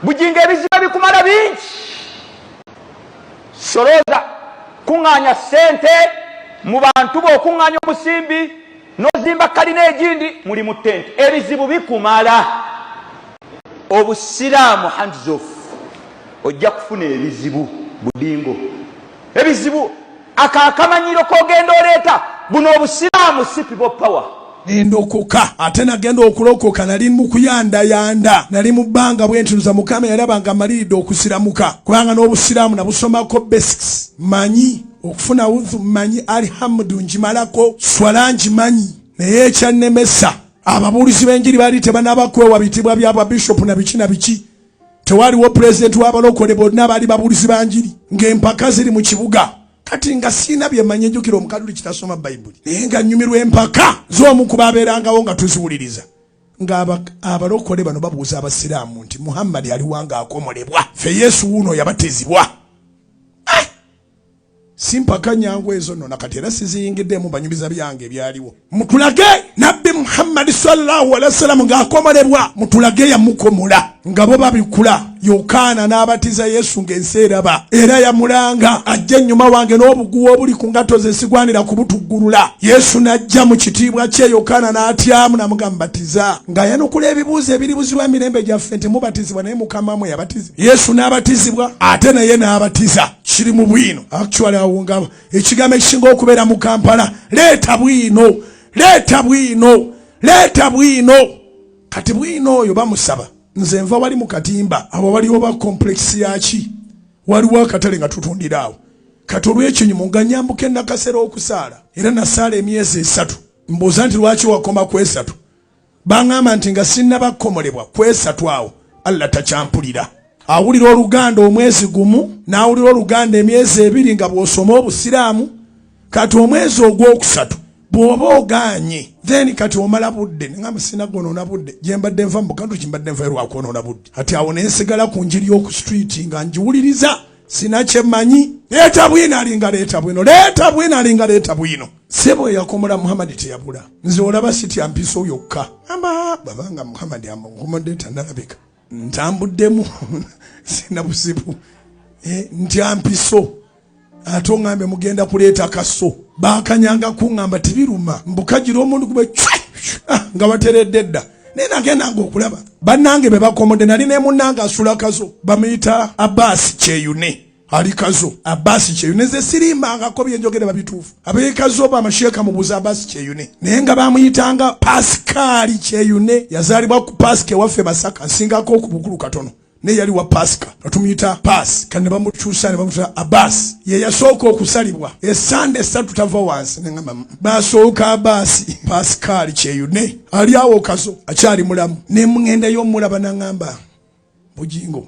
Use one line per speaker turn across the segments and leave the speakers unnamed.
bujinga ebizibu ebikumala bingi solooza kuŋŋaanya ssente mu bantu bo okuŋŋaanya omusimbi n'ozimba kalina egindi muli mu ttenti ebizibu bikumala obusiraamu hands off ojja kufuna ebizibu budingo ebizibu Ako akamanyiiro kogenda oleeta buno obusiraamu si people power. nendokoka
ate nagenda okulokoka nali mukuyandayanda nali mu bbanga bwentunuza mukama yalaba nga maliridde okusiramuka kubanga n'obusiraamu nabusomako basics manyi okufuna udhu manyi alihamudu njimalako swala njimanyi naye ekyannemesa ababuulizi b'enjiri baali tebanaba kwewa bitibwa bya babishopu na biki na biki Tewaliwo pulezidenti w'abalokole bonna baali babuulizi ba njiri ng'empaka ziri mu kibuga kati nga siina byemanyi ejjukira omukaduli kitasoma bayibuli naye nga nnyumirwa empaka z'omu ku baabeerangawo nga tuziwuliriza ng'abalokole bano babuuza abasiraamu nti muhammadi aliwa ng'akomolebwa ffe yesu wuuno yabatizibwa simpaka nyangu ezo nno nakati era siziyingiddemu banyumiza byange ebyaliwo mutulage nabbi muhammadi sallallahu alehi wasalamu ng'akomolebwa mutulage yamukomola nga bo babikula yokaana n'abatiza yesu ng'ensi eraba era yamulanga ajja ennyuma wange n'obuguwa obuli ku ngatto ze sigwanira kubutuggulula yesu n'ajja mu kitiibwa kye yokaana n'atyamu namugambatiza ng'ayanukula ebibuuzo ebiribuzibwa mirembe gyaffe nti mubatizibwa naye mukama mwe yabatiza yesu n'abatizibwa ate naye n'abatiza kiri mu bwino actually awo nga ekigambo ekisinga okubeera mu kampala leeta bwino leeta bwino leeta bwino kati bwino oyo bamusaba nze nva wali mu katimba abo waliwo ba complex yaki waliwo akatale nga tutundira awo kati olw'ekinyumu nga nyambuka enakasera okusaala era nasaala emyezi esatu mbuuza nti lwaki wakoma ku esatu Baŋŋamba nti nga sinnaba kukomolebwa kwesatu awo Allah takyampulira. Awulira Oluganda omwezi gumu n'awulira Oluganda emyezi ebiri nga bw'osoma Obusiraamu. Kati omwezi ogwokusatu bw'oba ogaanye then kati omala budde neŋamba sina gwonoona budde gye mbadde nva mu bukantu ki mbadde nvayo lwa kwonoona budde kati awo ne nsigala ku njiri y'oku streeti nga ngiwuliriza sina kye mmanyi leeta bwino alinga leeta bwino leeta bwino alinga leeta bwino sebo eyakomola muhammad teyabula nze olaba sitya mpiso yokka ama babanga muhammad amukomodde tanalabika ntambuddemu sina buzibu eh, ntya mpiso ate ongambe mugenda kuleeta kaso bakanyanga kuŋamba tebiruma mbukagira omuntu kuba ah, nga bateredde dda naye nagendanga okulaba bannange bebakomodde nali nemunange asulakazo bamuyita abaasi kyeyune ali kazo abasi kyeyune nze sirimbangako byenjogera babituufu abekazo oba amasheeka mubuuza abasi kyeyune naye nga bamuyitanga pasikaali kyeyune yazaalibwa ku pasika ewaffe masaka nsingako okubukulu katono naye yali wa pasika batumuyita paasi kati ne bamukyusa ne bamututa abasi ye yasooka okusalibwa esande esatu tava wansi neamba basooka abasi pasikaali kyeyune ali awo kazo akyali mulamu ne mugenda yo omulaba naŋamba bujingo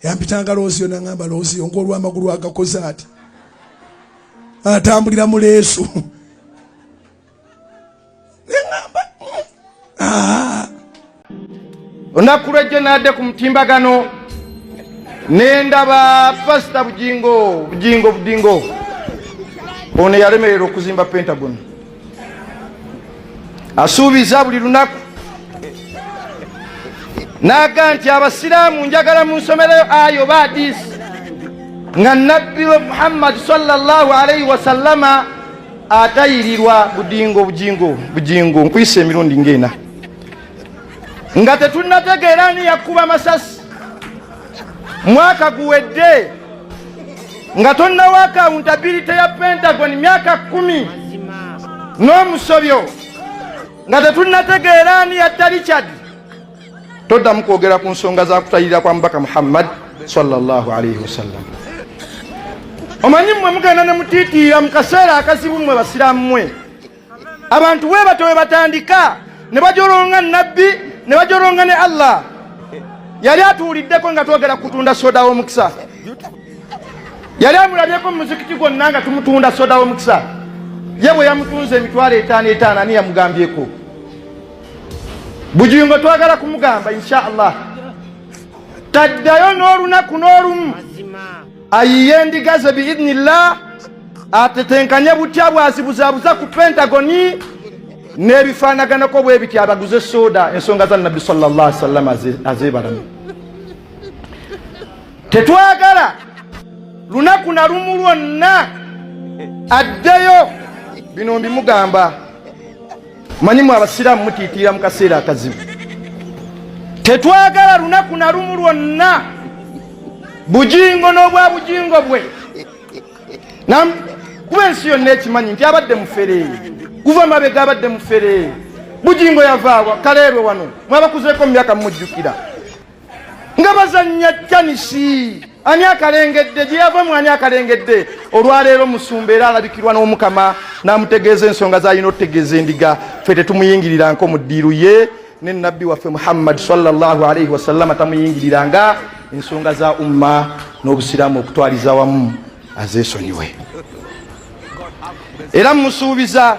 yampitanga loosiyo nangamba loosiyo ngaolwamagulu agakoze ati atambulira mu leesu nengamba ah.
olunaku lwejjo naadde ku mutimbagano nendaba pasita bujingo bujingo budingo ono yalemerera okuzimba pentagon asuubiza buli lunaku naaga nti abasiraamu njagala mu nsomerayo ayo oba adiisi nga nabbi we muhammadi salllahu alaihi wasallama atayirirwa budingo bujingo bujingo nkuyisa emirundi ngaena nga tetunategeera ani yakkuba masasi mwaka guwedde nga tonnawo akawuntabirite ya pentagon myaka kumi n'omusobyo nga tetunnategeera ani yatta richard toddamu kwogera ku nsonga za kutayirira kwa mubaka muhammad sallallahu alaihi wasallam omanyi mmwe mugenda ne mutiitiira mu kaseera akazibu mmwe basiramu mmwe abantu we batyo we batandika ne bajolonga nabbi ne bajolonga ne allah yali atuwuliddeko nga twogera kutunda soda w'omukisa yali amulabyeko mu muzikiti gwonna nga tumutunda soda w'omukisa ye bwe yamutunza emitwalo etaano etaano ani yamugambyeko bujingo twagala kumugamba insha allah taddayo n'olunaku n'olumu ayiye endiga ze biidnillah atetenkanye butya bwazibuzabuza ku pentagoni n'ebifaanaganako bwe bityo abaguze sooda ensonga za nabbi sallallahu sallam azeebalame tetwagala lunaku na lumu lwonna addeyo bino mbimugamba Manyi mwe abasiraamu mutiitiira mu kaseera akazibu. Tetwagala lunaku na lumu lwonna bujingo n'obwa bujingo bwe kuba ensi yonna ekimanyi nti abadde mufere kuva mabega abadde mufere bujingo yavaawa kaleerwe wano mwabakuzeeko mu myaka mumujjukira nga bazannya tanisi ani akalengedde gye yava mu ani akalengedde olwaleero musumba era alabikirwa n'omukama n'amutegeeza ensonga zalina otutegeeza endiga fe tetumuyingiriranko mu ddiiru ye ne nabbi waffe muhammad salllahu alaihi wasallama tamuyingiriranga ensonga za umma n'obusiraamu okutwaliza wamu azesonyiwe era musuubiza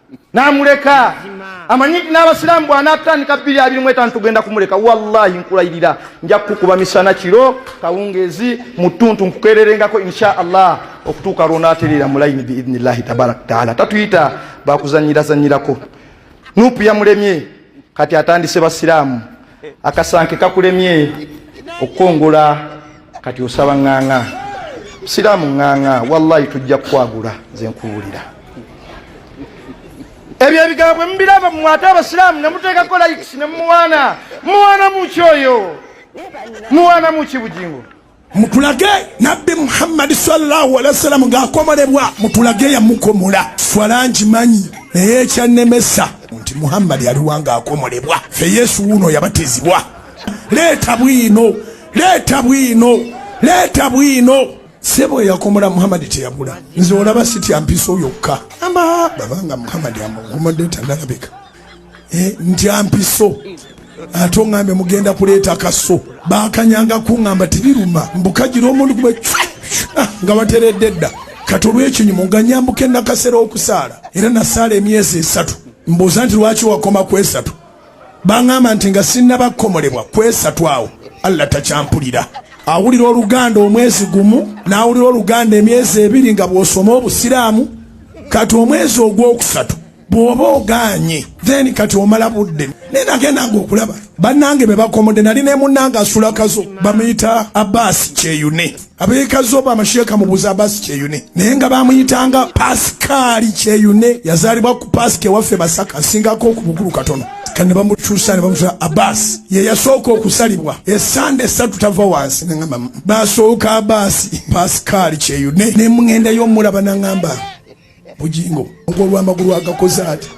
namuleka amanyi nti n'abasiraamu bw'anaatandika bbiri abiri mu etaano tugenda kumuleka wallahi nkulayirira nja kukukuba misana kiro kawungeezi mu ttuntu nkukeererengako insha allah okutuuka lw'onaatereera mu layini biidni llahi tabaraka taala tatuyita bakuzanyirazanyirako nuupu yamulemye kati atandise basiraamu akasanke kakulemye okukungula kati osaba ŋŋaŋa siraamu ŋŋaŋa wallahi tujja kukwagula nze nkuwulira ebyo ebigambo bwe mubiraba mu ate abasiraamu ne muteekako likisi ne mumuwaana muwaana muki oyo muwaana muki bugingo mutulage
nabbi muhammadi sallallahu alehi wasallam ng'akomolebwa mutulage yamukomola swala ngimanyi naye ekyannemesa nti muhammadi aliwa ng'akomolebwa fe yesu wuuno yabatizibwa leeta bwino leeta bwino leeta bwino sebo eyakomola muhammadi teyabula nze olaba sitya mpiso yokka ama babanga muhammadi amukomodde tanalabika eh, ntya mpiso ate ongambe mugenda kuleeta kaso bakanyanga kungamba tibiruma mbukagira omuntu kuba ah, nga bateredde dda kati olwekinyumu nga nyambuka enakasera okusaala era nasaala emyezi esatu mbuuza nti lwaki wakoma ku esatu baŋamba nti nga sinnabakomolebwa ku esatu awo allah takyampulira awulira oluganda omwezi gumu n'awulira oluganda emyezi ebiri nga bw'osoma obusiraamu kati omwezi ogwokusatu bwoba oganye then kati omala budde naye nagenda nga okulaba bannange be bakomodde nali ne munnange asula kazo bamuyita abasi kyeyune abeekazo bamasheeka mubuza abasi kyeyune naye nga bamuyitanga pasikaali kyeyune yazaalibwa ku pasika ewaffe masaka asingako okubukulu katono kane bamukyusa ne bamusa abasi ye yasooka okusalibwa esande esatu tava wansi nangamba basooka abasi pasikaali kyeyune ne mugenda yomulaba nangamba bujingo ogwolwamagulu agakoze ati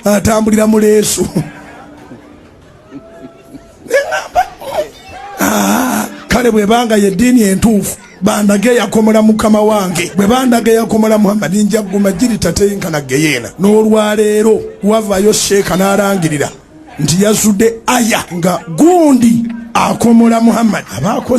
atambulira mu leesu ah, kale bwebanga yeddiini entuufu bandaga eyakomola mukama wange bwe bandaga eyakomola muhammadi nja kuguma giri tateyinkana geyeena n'olwaleero wavayo sheeka n'alangirira nti yazudde aya nga gundi akomola muhammadi